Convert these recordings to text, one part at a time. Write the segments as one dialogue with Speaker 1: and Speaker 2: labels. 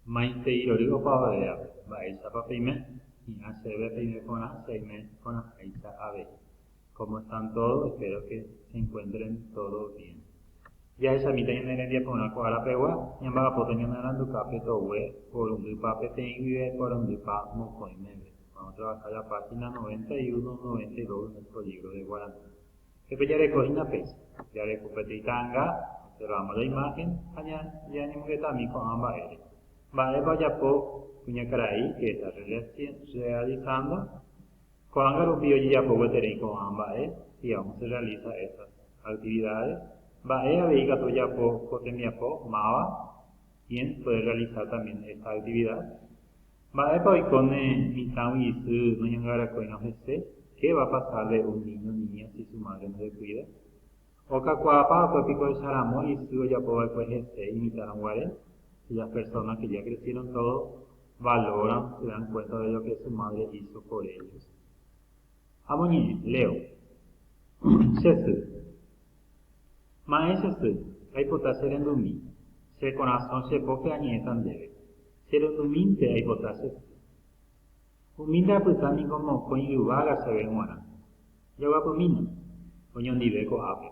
Speaker 1: Maitei rory opavave ápe. Mba'éichapa peime? Hi'ã chéve peime porã che aime porãháicha avei. Cómo están todos, espero que se encuentren todos bien. Jahechamíta ñane rembia porã ko ára pegua, ñamba'apóta ñanaranduka pe togue porundypa peteĩ guive porundypa mokõi meve. Vamos trabajar la página 91, 92 en el polígro de Guarani. Jepe jareko hína péicha. Jareko peteĩ ta'anga, observamos la imagen, ha ñañemongetami ko'ã mba'ére. Mba'épa ojapo kuñakarai que está realizando? Ko'ág̃a rupi ojejapo gueterei ko'ã mba'e, si aún se realiza esas actividades, mba'e avei ikatu ojapo ko tembiapo máva, quién puede realizar también esta actividad? Mba'épa oiko ne mitãgui isy noñangarakóirõ hese? Qué va pasarle un niño, niña si su madre no le cuida? Okakuaapa opa piko echaramo isy ojapova'ekue hese imitãrõ guare? Si las personas que ya crecieron todo valoran, se dan cuenta de lo que su madre hizo por ellos. Amoñe'ẽ, Leo. Che sy. Ma'ẽ che sy, aipota cherendumi. Che korasõ che póke añe'ẽta ndéve. Che rundumínte aipota che sy. Umi ndapyta niko mokõi yvága chéve g̃uarã. Jaguapymína, oñondive ko'ápe.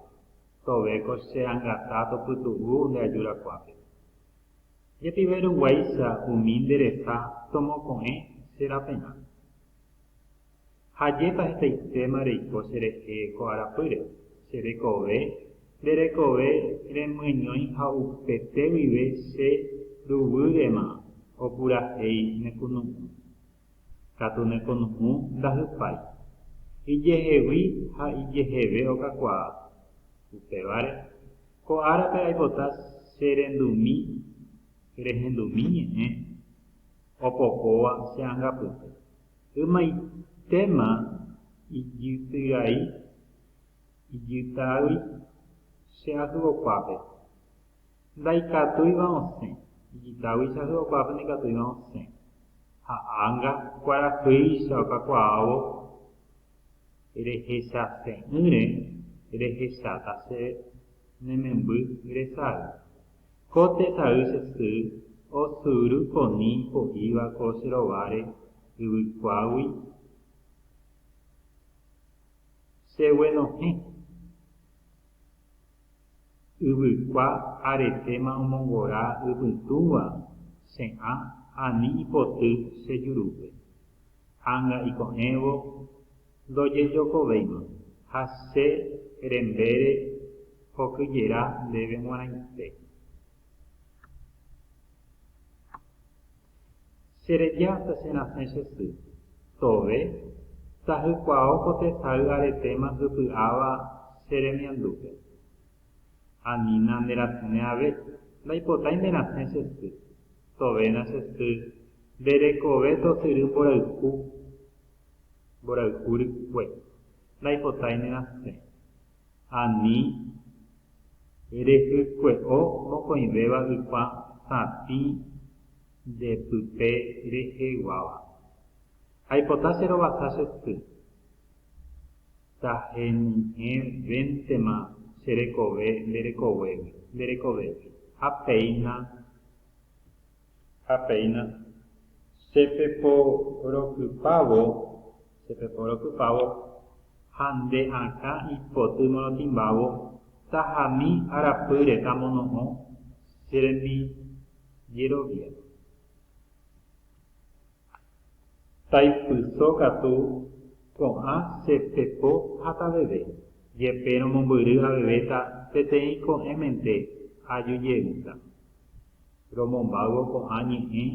Speaker 1: Tove ko che angata topytu'u nde ajurakuápe. Jepive ruguáicha umi nde resa tomoko'ẽ che raperã. Ha ajépa hetaitéma reiko cherehe ko arapýre, che rekove, nde rekove remyeñói ha upete guive che ruvýrema opurahéi nekunu'ũ. Katu nekunu'ũ ndahypái. Ijehegui ha ijeheve okakuaa. Upévare, ko árape aipota che rendumi rehendumi ñe'ẽ opokóva che angapyte. Ymaitéma ijytyrai ijytagui che ahyokuápe, ndaikatúiva osẽ, ijytagui che ahyokuápe ndaikatúiva osẽ, ha ánga kuarahýicha okakuaávo rehechase'ỹre rehecháta che ne memby resay. Ko tesay che sy osyry poni po'íva ko che rováre yvykuágui, che guenohẽ. Yvykua aretéma omongora ypytũva che ã ani ipoty che jurúpe. Anga iko'ẽvo. Ndojejokovéima, ha che rembére hokyjera ndéve g̃uarãite. Che reja hasta che rasẽ che sy. Tove, tahykuaó ko tesay aretéma hypy'áva che remiandúpe. Anína nde rasẽne ave, ndaipotái nde rasẽ che sy. Tovéna che sy, nde rekove tosyry mborayhu. mborayhu rykue, naipotái nerasẽ. Ani rehykue'o mokõivéva ypa sapĩ nde pype reheguáva. Aipota che rovasa che sy, tahenyhẽ véntema che rekove nde rekoguégui, nde rekovégui, ha péina. ha péina che peporokypávo, che peporokypávo ha nde akã ipoty morotĩmbávo tahami arapýre amono'õ che rembijerovia. Taipyso katu ko'ã che pepo hataveve, jepe romombyry avevéta peteĩ ko'ẽmente ajujeýta. Romombáyvo ko'ã ñe'ẽ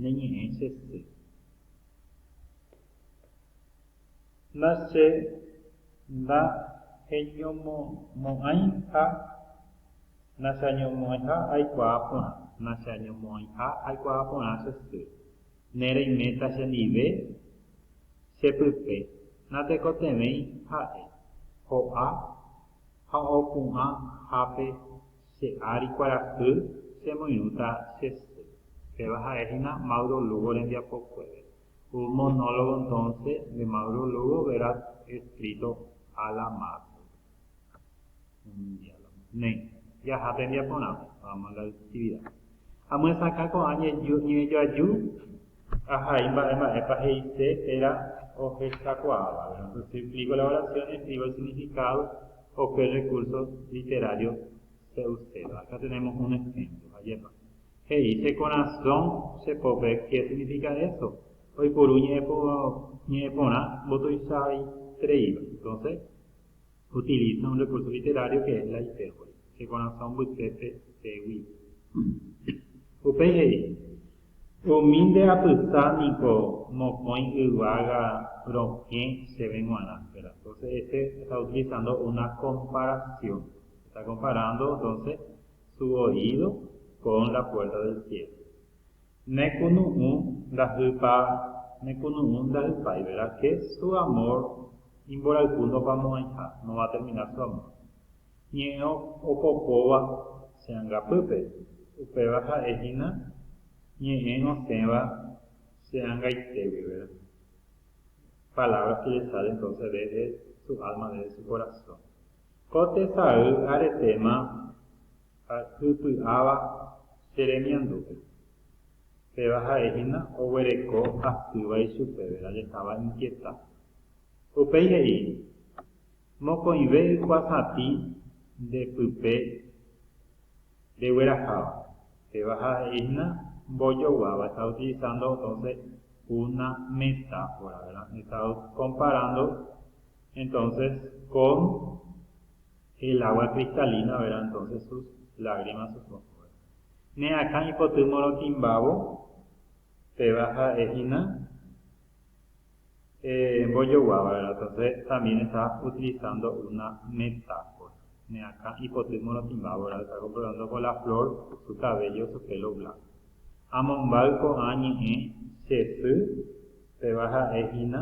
Speaker 1: ne ñe'ẽ che sy. La che ndaheñomo'ãi ha nacheañomo'ãiha aikuaa porã, nacheañomo'ãiha aikuaa porã che sy, ne reiméta chendive che pype, natekotevẽi ha'e, ho'a ha opu'ã hápe che ári kuarahy chemoirũta che sy, péva ha'e hína Mauro Lugo rembiapokuére. Ku monólogo entonce de Mauro Lugo verás escrito a la mano. Un diálogo. Néi, jaha tembiapo porã. Vamos a la actividad. Amyesakã ko'ã ñejoaju ahai mba'e mba'épa he'ise térã ohechakuaáva. Entonces si explico la oración, escribo el significado o qué recurso literario se uséva. Acá tenemos un ejemplo. Ajépa. He'i, Che korasõ chepove ké signifika eso, oipuru ñe'ẽ porã mbotuichaitereíva. Entonces, utiliza un recurso literario que es la hipérbole, che korasõ mbytépe pégui. Upéi he'i, Umi nde apysa niko mokõi yvága rokẽ chéve g̃uarã. Entonces, este está utilizando una comparación, está comparando entonces su oído con la puerta del cielo. Ne kunu'ũ ndajýpa ne kunu'ũ ndajypái verá que su amor imborayhu ndopamo'ãiha, no va a terminar su amor. Ñe'ẽ opokóva che angapýpe, upéva ha'e hína ñe'ẽ osẽva che angaitégui, verá. Palabras que le salen entonces desde su alma, desde su corazón. Ko tesay aretéma hypy'áva che remiandúpe. Péva ha'e hína oguereko asýva ichupeve jajetáva inkieta. Upéi he'i, Mokõive ykuasatĩ nde pype regueraháva. Péva ha'e hína mbojoguáva está utilizando entonces una metáfora, verdad, está comparando Entonces con el agua cristalina vera entonces sus lágrimas sus ojos vera ne akã ipoty morotĩmbávo péva ha'e hína eh mbojoguáva vera entonces también está utilizando una metáfora ne akã ipoty morotĩmbávo vera está comparando con la flor su cabello su pelo blanco amombáy ko'ã ñe'ẽ che sy péva ha'e hína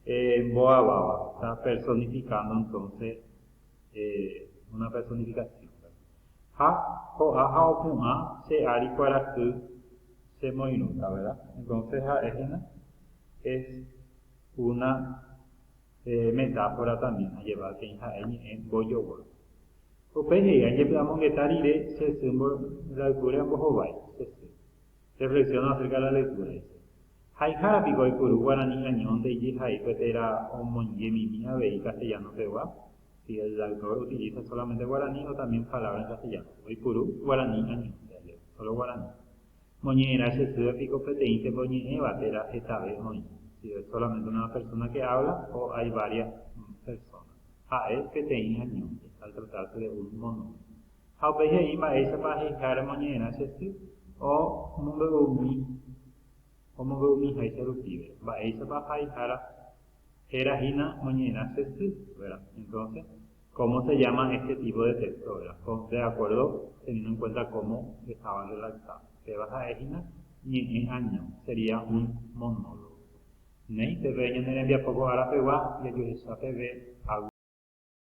Speaker 1: Eh, mbo'aváva. Está personificando entonces eh, una personificación. Ha, ho'a ha opu'ã che ári kuarahy chemoirũta, ¿verdad? Entonces ha'e hína es una eh, metáfora también, ha lleva teĩ ha'e ñe'ẽ mbojogua. Upéi he'i, ajepy'amongeta rire che sy mbo, rayhúre ambohovái che sy. Reflexiona acerca de la lectura, dice, Haihára piko oipuru guarani añónte ijehai pe térã omoingemimi avei castellano pegua? Si el autor utiliza solamente guarani o también palabra en castellano. Oipuru guarani añónte, leo, solo guarani. Moñe'ẽrã che sýpe piko peteĩntepa oñe'ẽva térã hetave oĩ, si es solamente una persona que habla o hay varias personas. Ha'e peteĩ añónte, al tratarse de un monólogo. Ha upéi he'i mba'éichapa aheiháramo ñe'ẽrã che sy omombe'uumi omombe'umiháicha rupive, mba'éichapa haihára héra hína moñe'ẽrã che sy, vera. Entonce, cómo se llama este tipo de texto, vera, con de acuerdo teniendo en cuenta cómo estaban redactados. Péva ha'e hína ñe'ẽ año, sería un monólogo. Néi, peve ñane rembiapo ko ára pegua jajuehecha peve,